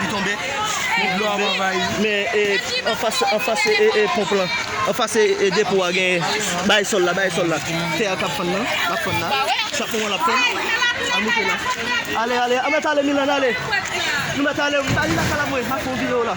Li tonbe. Dlo ap anvayi. Men e anfas anfas e ponp lan. Anfas e depo a gen bagay sòl la bagay sòl la. Tè a kap fann nan. Lap fann la. Chak moman lap fann. Al moute la. Ale ale. Anmèt ale Milann ale. Nou mèt ale. Ba li lakay la vwe. Map fè yon video la.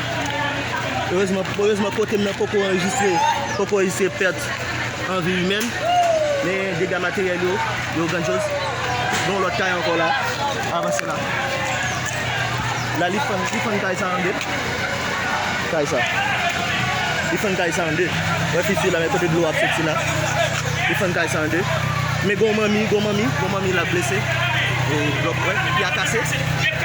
Erezman kote m nan poko anrejistre, poko anrejistre pèt an vi imèn. Men dega materyèl yo, yo grandyoz. Gen yon lòt kay ankò la, avanse la. La li fann, li fann kay sa an 2. Kay sa. Li fann kay sa an 2. Wè fi sila men kote dlo ap soti la. Li fann kay sa an 2. Men gen yon manmi, gen yon manmi, gen yon manmi la blese. Blòk wè, pi a kase.